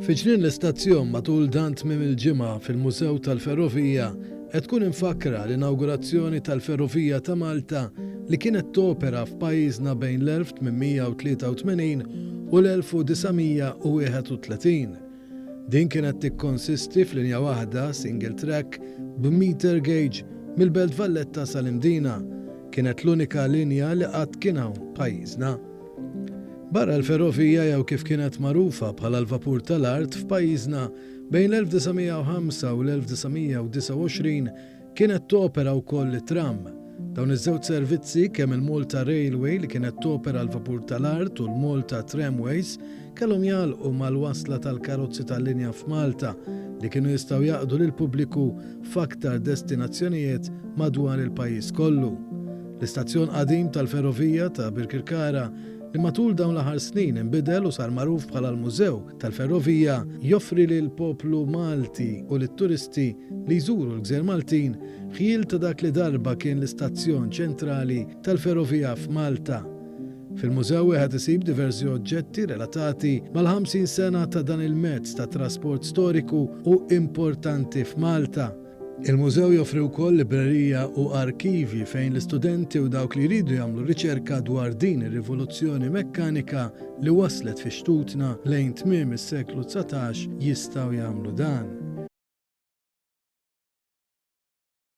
Fi ġnien l-istazzjon matul dan tmiem il-ġimgħa fil-Mużew tal-Ferrovija qed tkun imfakkra l-inawgurazzjoni tal-ferrovija ta' Malta li kienet topera f'pajjiżna bejn l-1883 u l-1931. Din kienet tikkonsisti f'linja waħda, single track, b'meter gauge mill-Belt Valletta sal-Imdina. Kienet l-unika linja li qatt kien hawn pajjiżna. Barra l-ferrovija jew kif kienet magħrufa bħala l-vapur tal-art f'pajjiżna, bejn l-1905 u l-1929 kienet topera wkoll it-tramm. Dawn iż-żewġ servizzi, kemm il-Malta Railway li kienet topera l-vapur tal-art u l-Malta Tramways, kellhom jagħlqu mal-wasla tal-karozzi tal-linja f'Malta li kienu jistgħu jaqdu lill-pubbliku f'aktar destinazzjonijiet madwar il-pajjiż kollu. L-istazzjon qadim tal-ferrovija ta' Birkirkara, li matul dawn l-aħħar snin inbidel u sar magħruf bħala l-Mużew tal-Ferrovija, joffri lill-poplu Malti u lit-turisti li jżuru l-gżejjer Maltin ħjiel ta' dak li darba kien l-istazzjon ċentrali tal-ferrovija f'Malta. Fil-mużew wieħed isib diversi oġġetti relatati mal-50 sena ta' dan il-mezz ta' trasport storiku u importanti f'Malta. Il-mużew joffri wkoll librerija u arkivji fejn l-istudenti u dawk li jridu jagħmlu riċerka dwar din ir-rivoluzzjoni mekkanika li waslet fi xtutna lejn tmiem is-seklu dsatax jistgħu jagħmlu dan.